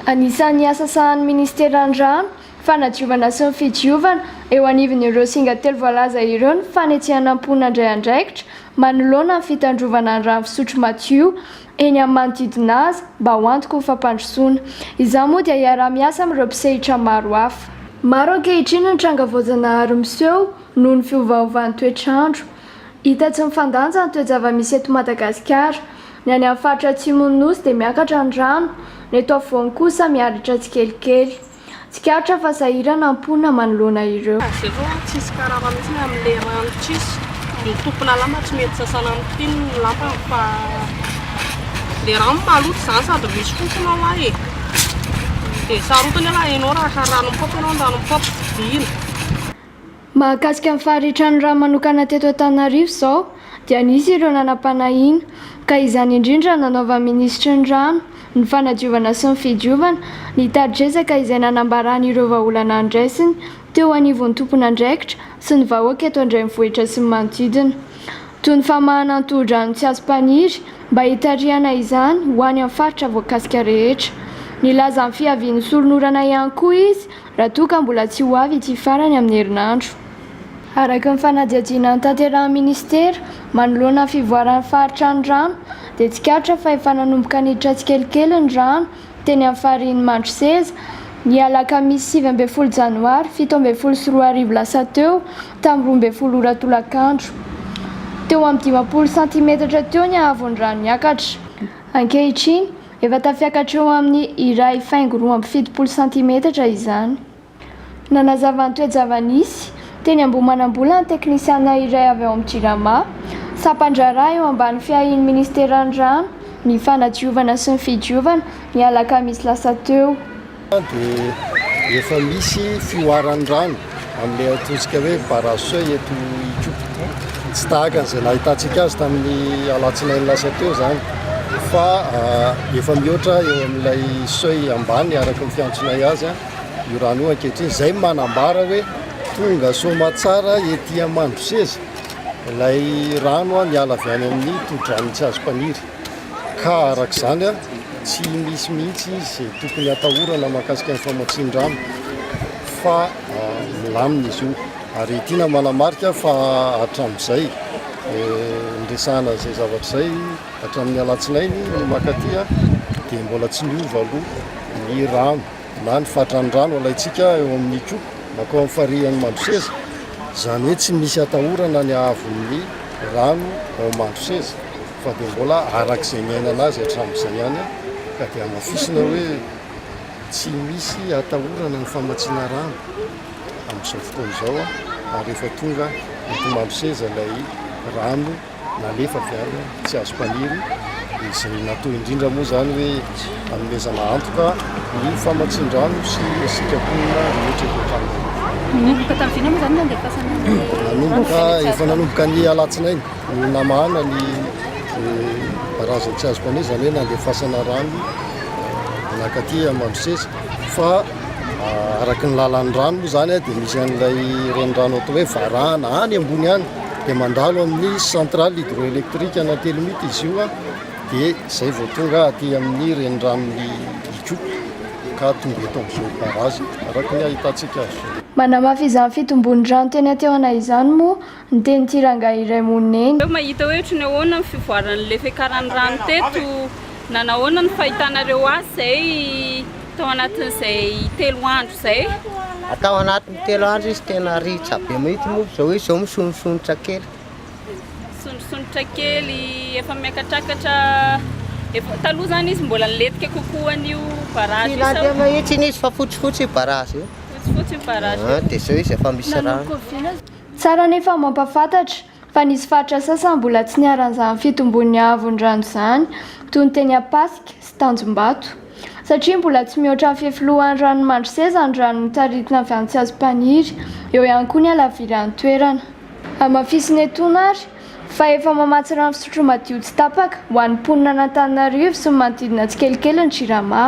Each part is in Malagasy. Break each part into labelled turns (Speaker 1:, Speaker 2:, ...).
Speaker 1: Anisan'ny asa sahanin'ny Ministeran'ny Rano, Fanadiovana sy ny Fidiovana eo anivon'ireo singa telo voalaza ireo ny fanetsehana am-po nandray andraikitra manoloana ny fitandrovana ny rano fisotro madio eny amin'ny manodidina azy mba ho antoky ny fampandrosoana. Izany moa dia hiaraha-miasa amin'ireo mpisehitra maro hafa. Maro ankehitriny ny tranga voajanahary miseho noho ny fiovaovan'ny toetr'andro. Hita tsy mifandanja ny toe-java-misy eto Madagasikara. Ny any amin'ny faritra atsimon'ny Nosy dia miakatra ny rano, ny eto afovoany kosa miharatra tsikelikely. Tsikaritra fa sahirana ny mponina manoloana ireo. Zero tsisy karama
Speaker 2: mihitsy ny amin le rano tsisy ny tompona lamba tsy mety sasana amin tin ny lampany fa le rano maloto zany sady misy fofona ao a e de sarotiny aloha enao raha ka ranom pop enao ny ranom pop tsy dino.
Speaker 1: Mahakasika ny faharitran'ny rà manokana teto Antananarivo izao dia nisy ireo nanam-panahiana ka izany indrindra nanaovan'ny minisitry ny rano, ny fanadiovana sy ny fidiovana ny tari-dresaka izay nanambarany ireo vahaolana andraisiny teo anivon'ny tompon'andraikitra sy ny vahoaka eto an-drenivohitra sy ny manodidina toy ny famahana ny tohodrano Tsiazompaniry mba hitarihana izany ho any amin'ny faritra voakasika rehetra. Nilaza ny fiavian'ny solon'orana ihany koa izy raha toa ka mbola tsy ho avy ity farany amin'ny herinandro. Araka ny fanadihadiana notanterahin'ny minisitera manoloana ny fivoaran'ny faritra ny rano dia tsikaritra fa efa nanomboka niditra tsikelikely ny rano teny amin'ny farihin'i Mandroseza ny alakamisy sivy ambin'ny folo janoary fito ambin'ny folo sy roa arivo lasa teo tamin'ny roa ambin'ny folo ora tolakandro. Teo amin'ny dimampolo santimetatra teo ny haavon'ny rano niakatra. Ankehitriny. Efa tafiakatra eo amin'ny iray faingo roa amby fitopolo santimetatra izany. Nanazava ny toe-java-nisy, teny Ambohimanambola ny teknisiana iray avy ao amin'ny Jirama. Sampan-draharaha eo ambany fiahian'ny minisiteran'ny Rano, ny Fanadiovana sy ny Fidiovana, ny alakamisy lasa teo. dia
Speaker 3: efa misy fihoaran'ny rano amin'ny antosika hoe barrage eto Ikopa. Tsy tahaka an'izay nahitantsika azy tamin'ny alatsinainy lasa teo izany fa ah, efa mihoatra eo amin'ilay seuil ambany araka ny fiantsonay azy ah, io rano io ankehitriny. Izay manambara hoe tonga soamatsara ety Mandroseza ilay rano ah, miala avy any amin'ny tohodrano Tsiazompaniry. ka araka izany tsy misy mihitsy izay tokony hatahorana mahakasika ny famatsian-drano fa milamina izy io ary tiana manamarika fa hatramin'izay niresahana izay zavatra izay hatramin'ny alatsinainy ny makatia dia mbola tsy niova aloha ny rano na ny fatran'ny rano alaintsika eo amin'ny koa makao amin'ny farihan'ny mandroseza izany hoe tsy misy hatahorana ny haavon'ny rano ao mandroseza fa dia mbola araka izay niainana azy hatramin'izay ihany ka dia hamafisina hoe tsy misy hatahorana ny famatsiana rano amin'izao fotoana izao ary efa tonga eto Maloseza ilay rano nalefa avy any Tsiazompaniry izay natao indrindra moa izany hoe hanomezana antoka ny famatsian-drano sy ny sitraponina rehetra eto an-tranonay. Nanomboka tamin'ny vina moa izany
Speaker 4: ny andefasan'ny rano? Nanomboka,
Speaker 3: efa nanomboka ny alatsinainy. Ny namahana ny razana tsy azo mpamily izany hoe nandefasana rano manakaty Amandroseza fa araka ny lalan'ny rano moa izany dia misy an'ilay renirano atao hoe varahana any ambony any dia mandalo amin'ny centrale hydroélectrique ana Telimity izy io dia izay vao tonga aty amin'ny reniranon'i Ikopa ka tonga eto amin'izao barrage araka ny ahitantsika azy. Manamafy izany
Speaker 1: fitombon'ny rano teny Antehoana izany moa Ny tenin'ity rangahy iray monina eny. Teo mahita hoe ohatry ny ahoana ny
Speaker 4: fivoaran'ny le fiakaran'ny rano teto na nahoana ny fahitanareo azy izay tao anatin'izay telo andro izay? Tao anatin'ny
Speaker 5: telo andro izy tena ritra be mihitsy moa izao izy izao misonosonotra kely. Misonosonotra
Speaker 4: kely, efa miakatrakatra, efa taloha izany izy mbola nilentika kokoa an'io barrage io sao? Tsy nandeha mihitsy izy fa
Speaker 5: fotsifotsy io barrage io. Fotsifotsy
Speaker 4: io barrage io. Dia izao izy efa misy
Speaker 5: rano. Tsara anefa
Speaker 1: mampahafantatra fa nisy faritra sasany mbola tsy niharan'izany fitomboan'ny haavon'ny rano izany, toy ny teny Ampasika sy Tanjombato. Satria mbola tsy mihoatra ny fefilohan'ny ranon'i Mandroseza ny rano mitaritina avy any Tsiazompaniry, eo ihany koa ny halaviran'ny toerana. Hamafisina etoana ary, fa efa mamatsy rano fisotro madio tsy tapaka ho an'ny mponina an'Antananarivo sy ny manodidina tsikelikely ny Jirama.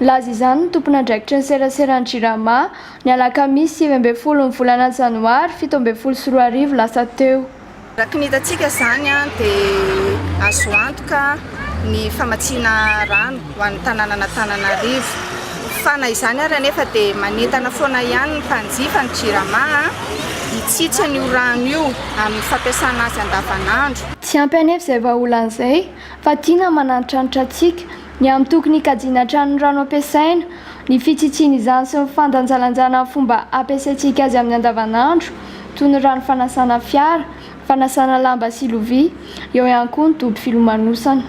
Speaker 1: Nilaza izany ny tompon'andraikitry ny seraseran'ny Jirama, ny alakamisy sivy ambin'ny folo ny volana janoary fito ambin'ny folo sy roa arivo lasa teo. Araka ny hitantsika
Speaker 6: izany dia azo antoka ny famatsiana rano ho an'ny tanànan'Antananarivo fa na izany ary anefa dia manentana foana ihany ny mpanjifa ny Jirama hitsitsy an'io rano io amin'ny fampiasana azy andavanandro. Tsy ampy anefa izay
Speaker 1: vahaolana izay fa tiana manantitrantitra antsika ny amin'ny toky nikajiana hatrany ny rano ampiasaina, ny fitsitsiana izany sy ny fandanjalanjana ny fomba ampiasaintsika azy amin'ny andavanandro, toy ny rano fanasana fiara, fanasana lamba sy lovia, eo ihany koa ny dobo filomanosana.